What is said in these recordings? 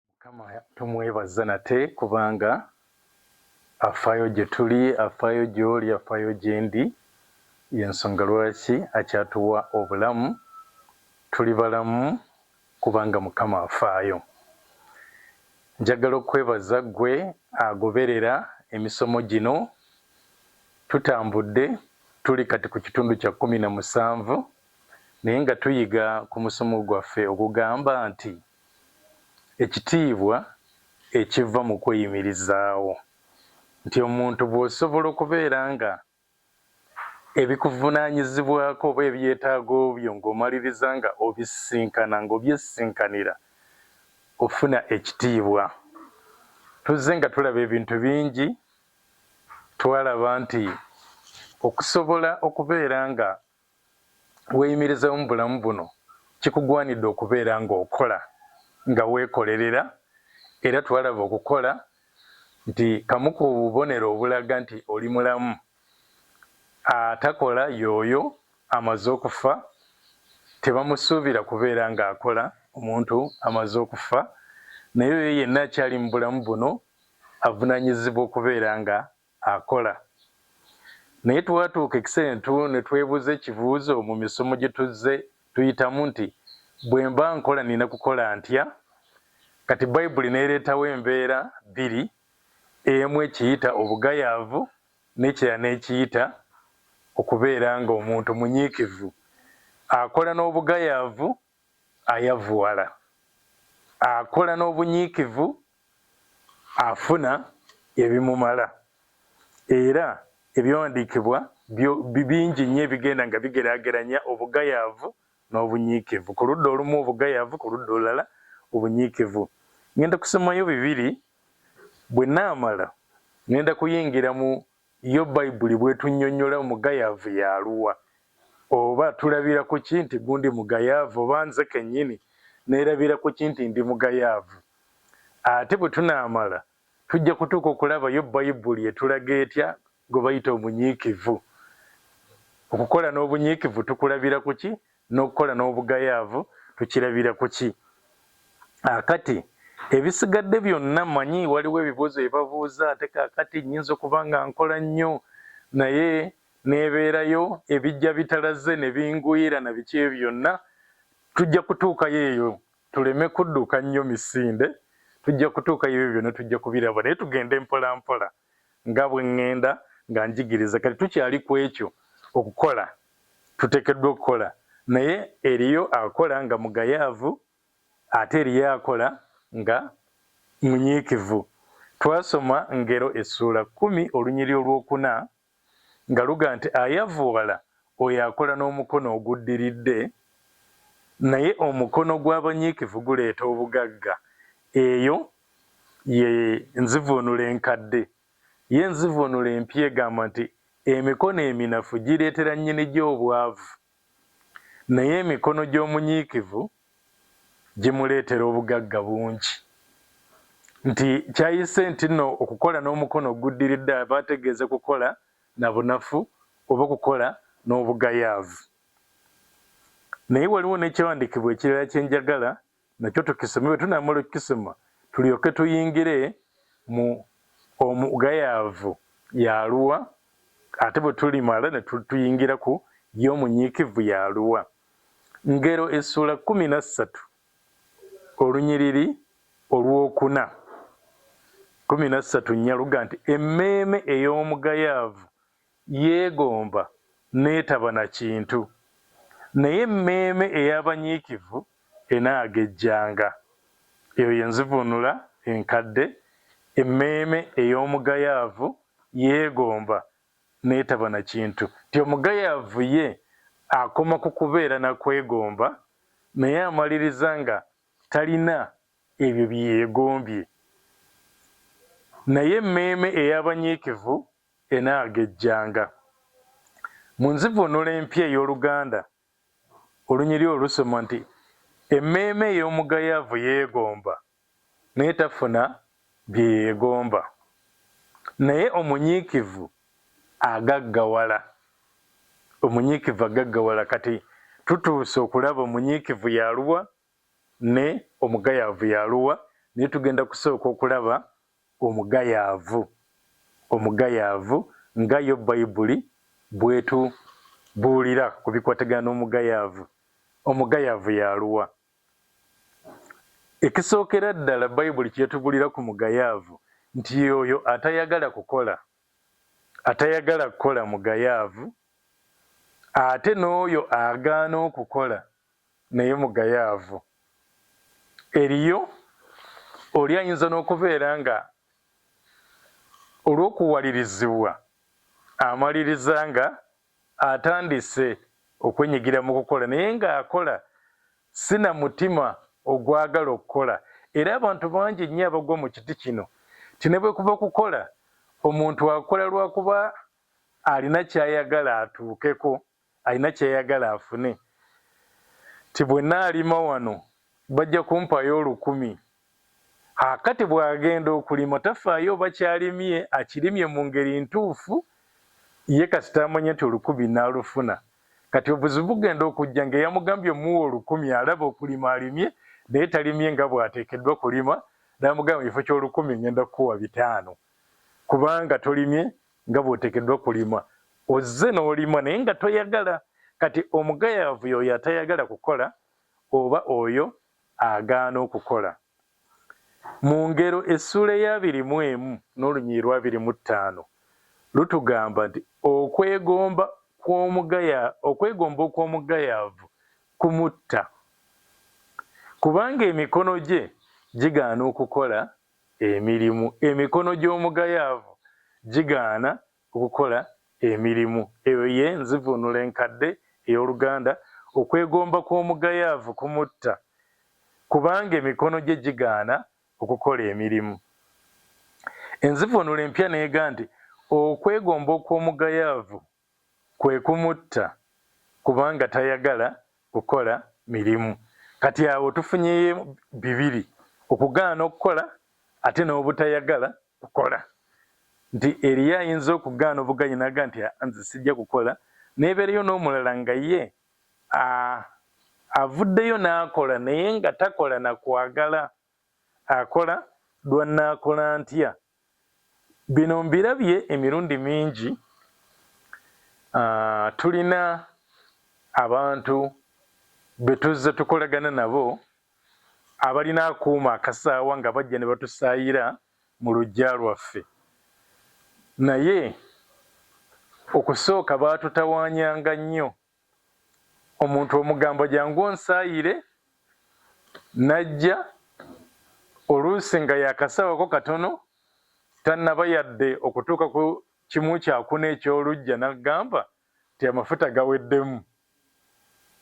Mukama tumwebaza nate kubanga afaayo gye tuli, afaayo gy'oli, afaayo gye ndi. Y'ensonga lwaki akyatuwa obulamu. Tuli balamu kubanga Mukama afaayo. Njagala okukwebaza ggwe agoberera emisomo gino. Tutambudde tuli kati ku kitundu kya kkumi na musanvu naye nga tuyiga ku musomo gwaffe ogugamba nti. ekitiibwa ekiva mu kweyimirizaawo, nti omuntu bw'osobola okubeera nga ebikuvunaanyizibwako oba ebyetaago byo ng'omaliriza nga obisisinkana, ng'obyesisinkanira, ofuna ekitiibwa. Tuzze nga tulaba ebintu bingi, twalaba nti okusobola okubeera nga weeyimirizeewo mu bulamu buno, kikugwanidde okubeera ng'okola nga weekolerera era twalaba okukola nti kamu ku bubonero obulaga nti oli mulamu. Atakola y'oyo amaze okufa, tebamusuubira kubeera ng'akola omuntu amaze okufa naye oyo yenna akyali mu bulamu buno avunaanyizibwa okubeera nga akola. Naye twatuuka e Kisentu ne twebuuza ekibuuzo mu misomo gye tuzze tuyitamu nti, Bwe mba nkola nnina kukola ntya? Kati Bayibuli n'ereetawo embeera bbiri, emu ekiyita obugayaavu n'ekirala n'ekiyita okubeera ng'omuntu munyiikivu. Akola n'obugayaavu ayavuwala. Akola n'obunyiikivu afuna ebimumala era ebyawandiikibwa bingi nnyo ebigenda nga bigeraageranya obugayaavu n'obunyiikivu ku ludda olumu obugayaavu ku ludda olulala obunyiikivu ngenda kusomayo bibiri bwe naamala ngenda kuyingira mu Yo Bayibuli bw'etunnyonnyola omugayaavu y'aluwa? Oba tulabira ku ki nti gundi mugayaavu? Oba nze kennyini neerabira ku ki nti ndi mugayaavu? Ate bwe tunaamala, tujja kutuuka okulaba yo Bayibuli etulaga etya gwe bayita omunyiikivu. Okukola n'obunyiikivu tukulabira ku ki? n'okukola n'obugayaavu tukirabira ku ki? Kaakati, ebisigadde byonna, mmanyi waliwo ebibuuzo bye babuuza, ate kaakati nnyinza okuba nga nkola nnyo, naye n'ebeerayo, ebijja bitalaze ne bingwira, na biki ebyo byonna, tujja kutuukayo eyo, tuleme kudduka nnyo misinde, tujja kutuukayo, ebyo byonna tujja kubiraba, naye tugende mpolampola. Nga bwe ŋŋenda nga njigiriza, kati tukyali ku ekyo, okukola. Tuteekeddwa okukola. Naye eriyo akola nga mugayaavu, ate eriyo akola nga munyiikivu. Twasoma Ngero essuula kkumi olunyiri olw'okuna nga luga nti ayavooala oyo akola n'omukono oguddiridde, naye omukono gw'abanyiikivu guleeta obugagga. Eyo ye nzivuunula enkadde. Yo enzivuunula empya egamba nti, Emikono eminafu gireetera nnyinigyo obwavu. Naye emikono gy'omunyiikivu gimuleetera obugagga bungi. Nti kyayise ntinno okukola n'omukono oguddiridde aba ategeeze kukola na bunafu oba okukola n'obugayaavu. Naye waliwo n'ekyawandiikibwa ekirala kye njagala nakyo tukisome bwe tunamala okukisoma tulyoke tuyingire mu omugayaavu yaluwa ate bwe tulimala ne tuyingira ku ye omunyiikivu yaluwa ngero essuula kkumi na ssatu olunyiriri olwokuna kkumi na ssatu nyaluga nti emmeeme ey'omugayaavu Yeegomba n'etaba na kintu, naye emmeeme ey'abanyiikivu enaagejjanga. Eyo ye nzivuunula enkadde, emmeeme ey'omugayaavu yeegomba n'etaba na kintu. Nti omugayaavu ye akoma ku kubeera na kwegomba, naye amaliriza nga talina ebyo bye yeegombye. Naye emmeeme ey'abanyiikivu enaagejjanga. Mu nzivuunula empya ey'Oluganda olunyiriri olwo lusoma nti, Emmeeme ey'omugayaavu yeegomba, naye tafuna bye yeegomba, naye omunyiikivu agaggawala. Omunyiikivu agaggawala. Kati tutuuse okulaba omunyiikivu y'aluwa ne omugayaavu y'aluwa, naye tugenda kusooka okulaba Omugayaavu, omugayaavu, nga yo Bayibuli bw'etubuulira ku bikwatagana n'omugayaavu. Omugayaavu y'aluwa? Ekisookera ddala Bayibuli ky'etubuulira ku mugayaavu nti y'oyo atayagala kukola. Atayagala kukola mugayaavu, ate n'oyo agaana okukola Naye mugayaavu. Eriyo oli ayinza n'okubeera nga olw'okuwalirizibwa amaliriza nga atandise okwenyigira mu kukola naye ng'akola si na mutima ogwagala okukola era abantu bangi nnyo abagwa mu kiti kino ti ne bwe kuba kukola omuntu akola lwakuba alina ky'ayagala atuukeko. Alina kyayagala afune nti bwenaalima wano bajja kumpayo olukumi akati bwagenda okulima tafaayo oba kyalimye akirimye mungeri ntuufu ye kasita amanye nti olukumi nalufuna kati obuzibu bugenda okujja ngeyamugambye omuwa olukumi alaba okulima alimye naye talimye nga bwatekeddwa kulima namugamba mukifo kyolukumi ngenda kukuwa bitaano kubanga tolimye nga bw'oteekeddwa kulima. Ozze n'olima naye nga toyagala. Kati omugayaavu y'oyo atayagala kukola oba oyo agaana okukola. Mu Ngero essuula ey'abiri mu emu n'olunyiriri lw'abiri mu ttaano lutugamba nti okwegomba kw'omugaya okwegomba okw'omugayaavu kumutta, kubanga emikono gye gigaana okukola emirimu, emikono gy'omugayaavu gigaana okukola emirimu. Eyo ye nzivuunula enkadde ey'Oluganda, Okwegomba kw'omugayaavu kumutta, kubanga emikono gye gigaana okukola emirimu. Enzivuunula empya n'egaa nti, Okwegomba okw'omugayaavu kwe kumutta kubanga tayagala kukola mirimu. Kati awo tufunyeyo bibiri, okugaana okukola ate n'obutayagala kukola. Nti eriyo ayinza okugaana obugaanyi n'aga nti nze sijja kukola, n'ebeereyo n'omulala nga ye avuddeyo n'akola naye nga takola na kwagala. akola lwa nnaakola ntya? Bino mbirabye emirundi mingi, tulina abantu be tuzze tukolagana nabo abalina akuuma akasaawa nga bajja ne batusaayira mu luggya lwaffe naye okusooka baatutawaanyanga nnyo omuntu omugamba jangu onsaayire n'ajja oluusi nga yakasawako katono tannaba yadde okutuuka ku kimu kyakuna eky'oluggya n'agamba nti amafuta gaweddemu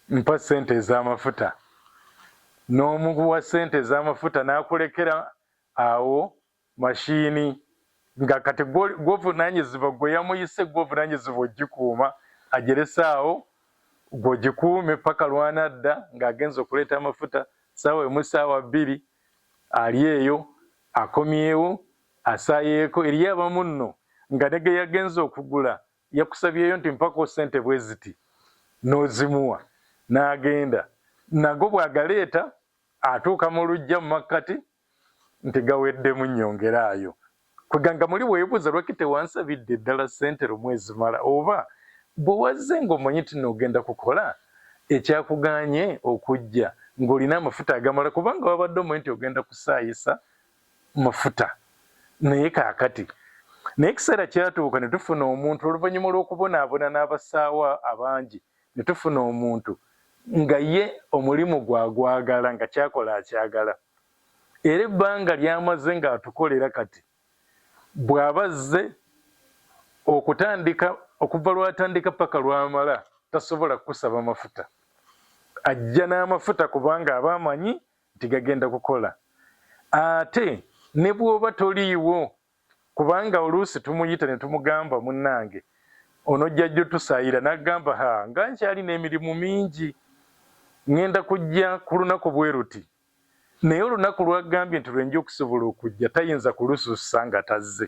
mpa ssente ez'amafuta n'omuwa ssente ez'amafuta n'akulekera awo Machine nga kati gwovunanyizibwa gwe yamuyise gwovunanyizibwa ogikuuma ajerese awo gwe ogikuume paka lwanadda nga agenze okuleeta amafuta saawa emu saawa bbiri ali eyo akomyewo asayeeko eriyo abamu nno nga ne geyagenze okugula yakusabyeyo nti mpako sente bweziti nozimuwa nagenda nago bwagaleeta atuuka mu lujja mu makkati nti gaweddemu nyongeraayo kweganga muli webuuza lwaki tewansabidde ddala ssente lumu ezimala oba bwe wazze ng'omanyi nti n'ogenda kukola ekyakuganye okujja ng'olina amafuta agamala kubanga wabadde omanyi nti ogenda kusaayisa mafuta naye kaakati naye ekiseera kyatuuka ne tufuna omuntu oluvannyuma lw'okubonaabona n'abasaawa abangi netufuna omuntu nga ye omulimu gwe agwagala nga kyakola akyagala era ebbanga lyamaze nga atukolera kati bwaba azze okutandika okuva lwatandika paka lwamala tasobola kukusaba mafuta ajja n'amafuta kubanga aba amanyi nti gagenda kukola ate ne bwoba toliiwo kubanga oluusi tumuyita ne tumugamba munnange onojja jjo tusaayira n'agamba ha nga nkyalina emirimu mingi ŋŋenda kujja ku lunaku bwe luti naye olunaku lw'agambye nti lwe nja okusobola okujja tayinza kulusussa nga tazze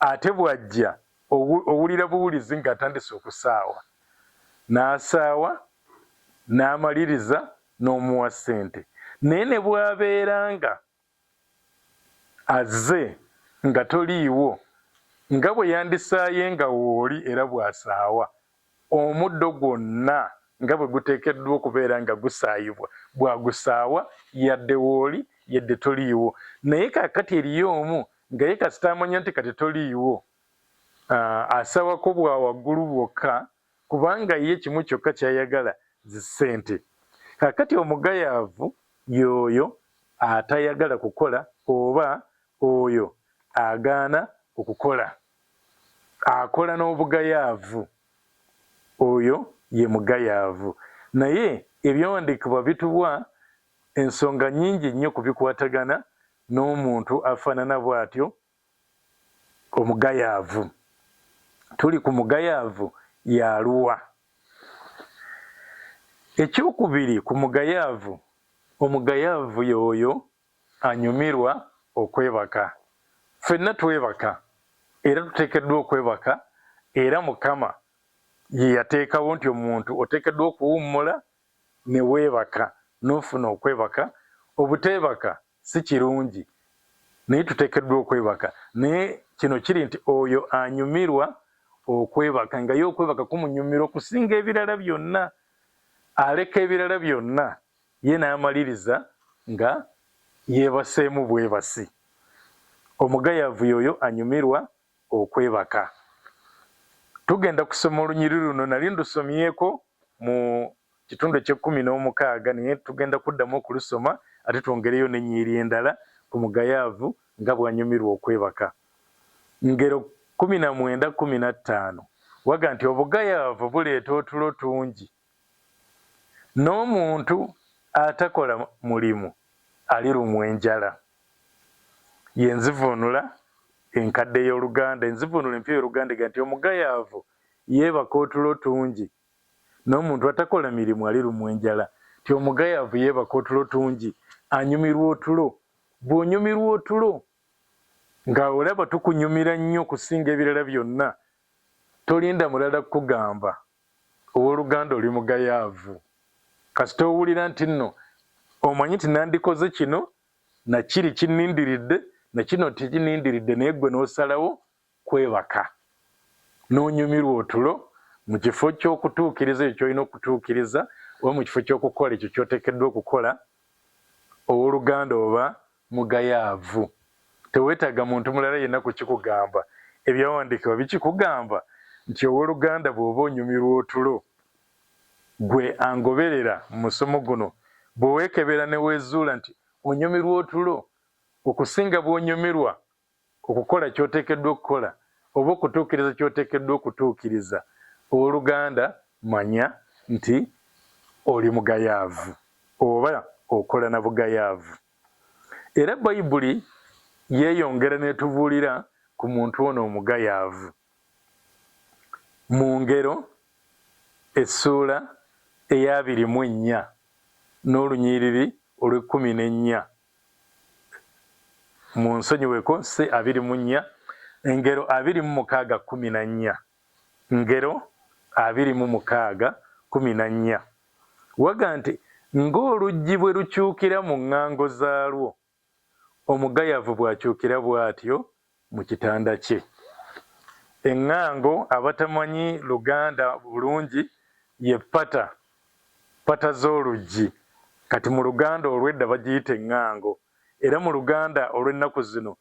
ate bw'ajja owulira buwulizi ng'atandise okusaawa n'asaawa n'amaliriza n'omuwa ssente naye ne bw'abeera nga Azze nga toliiwo, nga bwe yandisaaye nga wooli era bw'asaawa, omuddo gwonna nga bwe guteekeddwa okubeera nga gusaayibwa, bw'agusaawa, yadde wooli, yadde toliiwo. Naye kaakati eriyo Omu, nga Ye kasita amanya nti kati toliiwo, Aa, asaawako bwa waggulu bwokka, kubanga ye kimu kyokka ky'ayagala zi ssente. Kaakati omugayaavu y'oyo atayagala kukola oba oyo agaana okukola, akola n'obugayaavu, oyo ye mugayaavu. Naye ebyawandiikibwa bituwa ensonga nnyingi nnyo ku bikwatagana n'omuntu afaanana bw'atyo Omugayaavu. Tuli ku mugayaavu y'aluwa? Ekyokubiri ku mugayaavu, omugayaavu y'oyo anyumirwa okwebaka. Ffenna twebaka era tuteekeddwa okwebaka era Mukama ye yateekawo nti omuntu oteekeddwa okuwummula ne weebaka n'ofuna okwebaka. Obuteebaka si kirungi naye tutekeddwa okwebaka naye kino kiri nti oyo anyumirwa okwebaka nga ye okwebaka kumunyumira okusinga ebirala byonna aleka ebirala byonna ye n'amaliriza nga yeebaseemu bwebasi. Omugayavu yoyo anyumirwa okwebaka. Tugenda kusoma olunyiri luno nali ndusomyeko mu kitundu eky'ekkumi n'omukaaga naye tugenda kuddamu okulusoma ate twongereyo n'ennyiri endala ku mugayaavu nga bw'anyumirwa okwebaka. Ngero kkumi na mwenda kkumi na ttaano waga nti obugayaavu buleeta otulo tungi. N'omuntu atakola mulimu alirumwa enjala. Ye nzivuunula enkadde y'oluganda, enzivuunula empya ey'oluganda egamba nti, Omugayaavu yeebaka otulo tungi, n'omuntu atakola mirimu alirumwa enjala. Nti omugayaavu yeebaka otulo tungi, anyumirwa otulo. Bw'onyumirwa otulo, nga olaba tukunyumira nnyo okusinga ebirala byonna, tolinda mulala kukugamba, Owoluganda oli mugayaavu kasita owulira nti nno omanyi nti nandikoze kino na kiri kinnindiridde na kino tekinnindiridde naye ggwe n'osalawo kwebaka n'onyumirwa otulo mu kifo ky'okutuukiriza ekyo ky'olina okutuukiriza oba mu kifo ky'okukola ekyo ky'oteekeddwa okukola, owoluganda oba Mugayaavu. Tewetaaga muntu mulala yenna kukikugamba. Ebyawandiikibwa bikikugamba nti owoluganda bwoba onyumirwa otulo, gwe angoberera mu musomo guno, bwewekebera newezuula nti onyumirwa otulo okusinga bwonyumirwa Okukola ky'oteekeddwa okukola oba okutuukiriza ky'oteekeddwa okutuukiriza. Ow'oluganda, manya nti oli mugayaavu, oba okola na bugayaavu. Era Bayibuli yeeyongera n'etubuulira ku muntu ono omugayaavu. Mu Ngero essuula eya abiri mu ennya n'olunyiriri olw'ekkumi n'ennya Munsonyiweko si abiri mu nnya, Ngero abiri mu mukaaga kkumi na nnya. Ngero abiri mu mukaaga kkumi na nnya. Waga nti, Ng'oluggi bwe lukyukira mu ŋŋango zaalwo, omugayavu bw'akyukira bw'atyo mu kitanda kye. Eŋŋango abatamanyi Luganda bulungi ye ppata, ppata z'oluggi. Kati mu Luganda olw'edda bagiyita eŋŋango, era mu Luganda olw'ennaku zino,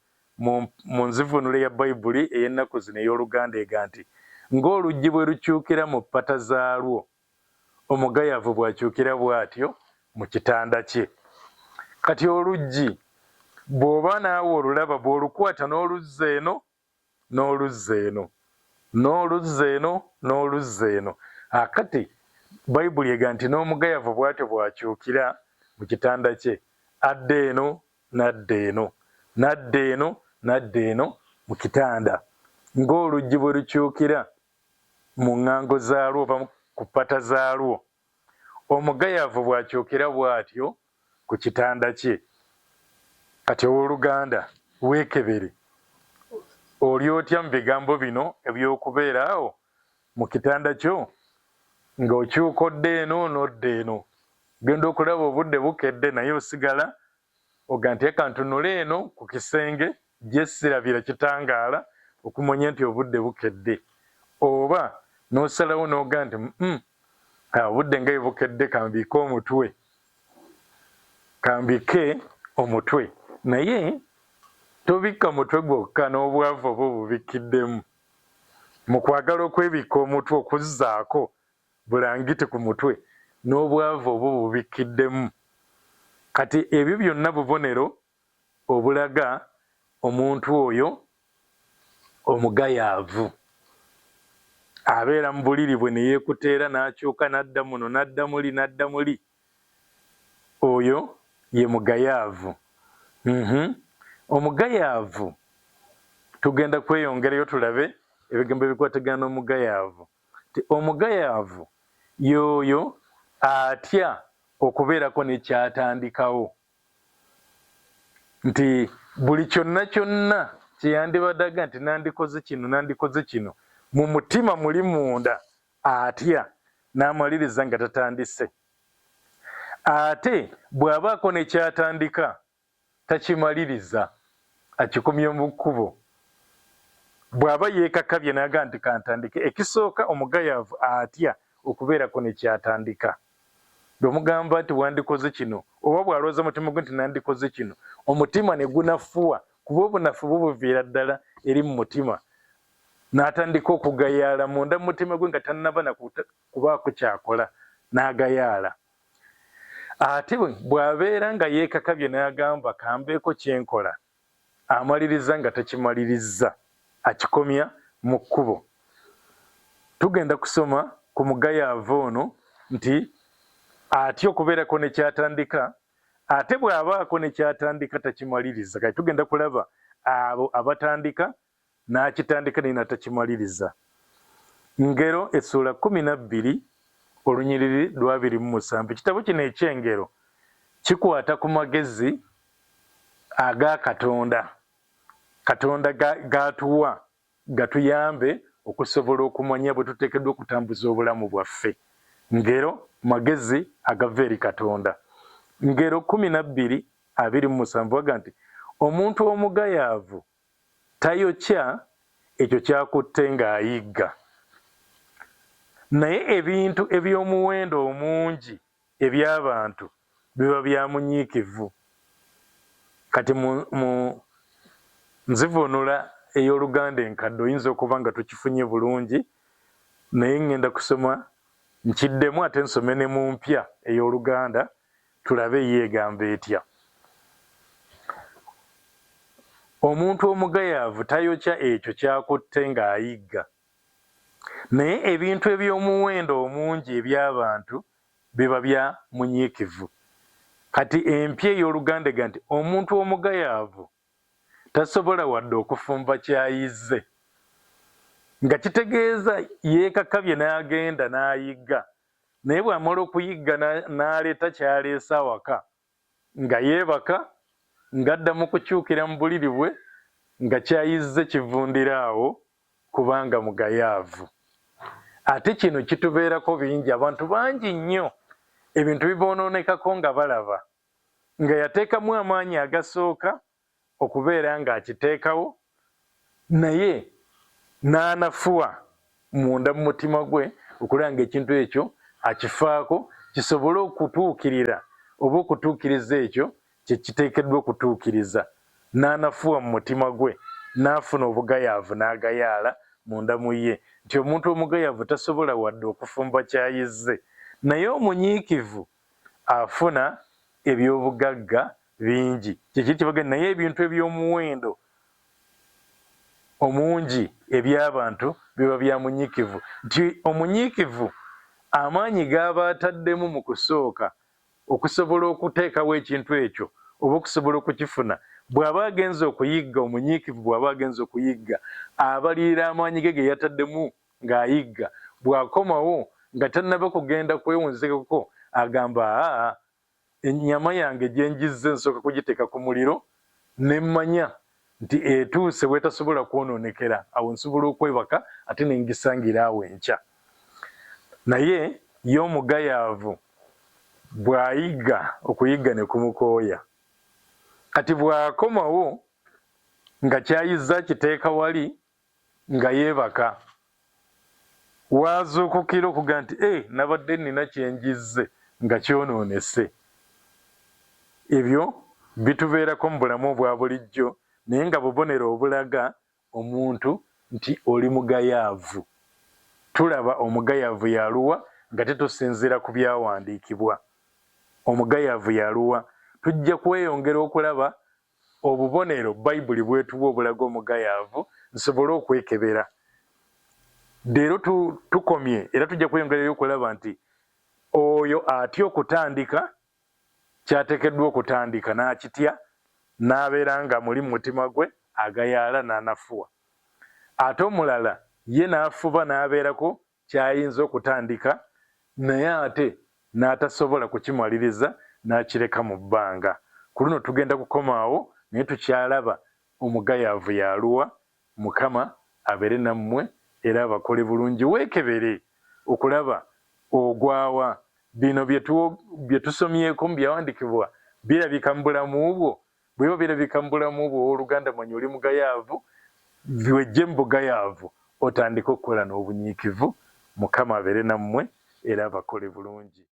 mu, mu nzivuunula ya Bayibuli ey'ennaku zino ey'Oluganda ega nti, Ng'oluggi bwe lukyukira mu ppata zaalwo. omugayavu bw'akyukira bw'atyo mu kitanda kye. Kati oluggi bw'oba naawe olulaba, bw'olukwata n'oluzza eno n'oluzza eno, n'oluzza eno n'oluzza eno. Kaakati Bayibuli egamba nti, N'omugayavu bw'atyo bw'akyukira mu kitanda kye, adda eno n'adda eno, n'adda eno n'adda eno mu kitanda, ng'oluggi bwe lukyukira mu ŋŋango zaalwo oba ku ppata zaalwo, omugayavu bw'akyokera bw'atyo ku kitanda kye. Kati, ow'oluganda, weekebere. Oli otya mu bigambo bino eby'okubeera awo mu kitanda kyo, nga okyuka odda eno n'odda eno, ogenda okulaba obudde bukedde, naye osigala Oga nteeka ntunule eno ku kisenge gye sirabira kitangaala okumanya nti obudde bukedde. Oba n'osalawo n'oga nti mm obudde nga bwe bukedde kambiike omutwe kambikke omutwe naye tobikka mutwe gwokka n'obwavu oba obubikkiddemu. Mu kwagala okwebikka omutwe okuzzaako bulangiti ku mutwe, n'obwavu obububikkiddemu. Kati ebyo byonna bubonero obulaga omuntu oyo omugayaavu. Abeera mu buliri bwe ne yeekuta era n'akyuka n'adda muno n'adda muli n'adda muli. Oyo ye mugayaavu. Uhmm. Omugayaavu tugenda kweyongerayo tulabe ebigambo ebikwatagana n'omugayaavu. nti omugayaavu y'oyo atya okubeerako ne ky'atandikawo, nti buli kyonna kyonna kye yandibadde aga nti nandikoze kino nandikoze kino, mu mutima muli munda atya n'amaliriza nga tatandise. Ate bw'abaako ne ky'atandika takimaliriza akikomye mu kkubo. Bw'aba yeekakabya n'agamba nti kantandike, ekisooka omugayaavu atya okubeerako ne ky'atandika. Bw'omugamba nti wandikoze kino oba bw'alowooza mu mutima gwe nti nandikoze kino, omutima ne gunafuwa kuba obunafu bwo buviira ddala eri mu mutima n'atandika okugayaala munda mu mutima gwe nga tannaba na kubaako ky'akola n'agayaala. Ate bw'abeera nga yeekakabye n'agamba kambeeko kye nkola, amaliriza nga takimalirizza, akikomya mu kkubo. Tugenda kusoma ku mugayaavu ono nti atya okubeerako ne ky'atandika ate bw'abaako ne ky'atandika takimaliriza. Kati tugenda kulaba abo abatandika N'akitandika naye n'atakimaliriza. Ngero essuula kkumi na bbiri olunyiriri lw'abiri mu musanvu. Ekitabo kino eky'Engero kikwata ku magezi aga Katonda, Katonda g'atuwa gatuyambe okusobola okumanya bwe tuteekeddwa okutambuza obulamu bwaffe. Ngero magezi agava eri Katonda. Ngero kkumi na bbiri abiri mu musanvu aga nti, Omuntu omugayaavu Tayokya ekyo ky'akutte ng'ayigga. Naye ebintu eby'omuwendo omungi eby'abantu biba bya munyiikivu. Kati mu, mu nzivuunula ey'Oluganda enkadde oyinza okuba nga tokifunye bulungi, naye ŋŋenda kusoma nkiddemu ate nsome ne mu mpya ey'Oluganda Tulabe yo egamba etya. Omuntu omugayaavu tayokya ekyo ky'akutte ng'ayigga. Naye ebintu eby'omuwendo omungi eby'abantu biba bya munyiikivu. Kati empya ey'Oluganda egamba nti, Omuntu omugayaavu tasobola wadde okufumba ky'ayizze. Nga kitegeeza yeekakabye n'agenda n'ayigga naye bwamala okuyigga n'aleeta kyaleese awaka nga yeebaka ng'adda mu kukyukira mu buliri bwe nga kyayizze kivundira awo kubanga mugayaavu ate kino kitubeerako bingi abantu bangi nnyo ebintu biboonoonekako nga balaba nga yateekamu amaanyi agasooka okubeera ng'akiteekawo naye n'anafuwa munda mu mutima gwe okulaba ng'ekintu ekyo akifaako kisobole okutuukirira oba okutuukiriza ekyo kye kiteekeddwa okutuukiriza, n'anafuwa mu mutima gwe, n'afuna obugayaavu n'agayaala munda mu ye, nti omuntu omugayaavu tasobola wadde okufumba ky'ayizze, naye omunyiikivu afuna eby'obugagga bingi, kyekiri kyebaga naye ebintu eby'omuwendo omungi eby'abantu biba bya munyikivu, nti omunyiikivu amaanyi g'aba ataddemu mu kusooka okusobola okuteekawo ekintu ekyo oba okusobola okukifuna, bw'aba agenze okuyigga, omunyiikivu bw'aba agenze okuyigga abalirira amaanyi ge geyataddemu Ng'ayigga bw'akomawo nga tannaba kugenda kwewunzikako agamba, Aa, ennyama yange gye njizze nsooka kugiteeka ku muliro ne mmanya nti etuuse w'etasobola kwonoonekera, awo nsobola okwebaka ate ne ngisangira awo enkya. Naye ye omugayaavu bw'ayigga, okuyigga ne kumukooya. Kati bw'akomawo nga ky'ayizze akiteeka wali nga yeebaka w'azuukukira okugamba nti e nabadde nnina kye njizze nga kyonoonese. Ebyo bitubeerako mu bulamu obwa bulijjo naye nga bubonero obulaga omuntu nti oli mugayaavu. Tulaba omugayaavu y'aluwa nga tetusinziira ku byawandiikibwa. Omugayaavu y'aluwa? Tujja kweyongera okulaba Obubonero Bayibuli bw'etuwa obulaga omugayaavu nsobole okwekebera. Leero tukomye era tujja kweyongerayo okulaba nti oyo atya okutandika kyateekeddwa okutandika n'akitya n'abeera nga muli mu mutima gwe agayaala n'anafuwa. Ate omulala ye n'afuba n'abeerako ky'ayinza okutandika naye ate n'atasobola kukimaliriza n'akireka mu bbanga. Ku luno tugenda kukoma awo naye tukyalaba omugayaavu y'aluwa. Mukama abeere nammwe era abakole bulungi. Weekebere okulaba ogwa wa. Bino bye tusomyeko mu Byawandiikibwa birabika mu bulamu bwo Bweba birabika mubulamu bwo owoluganda manya oli mugayaavu wejje mubugayaavu otandike okukola nobunyiikivu mukama abere namwe era abakole bulungi.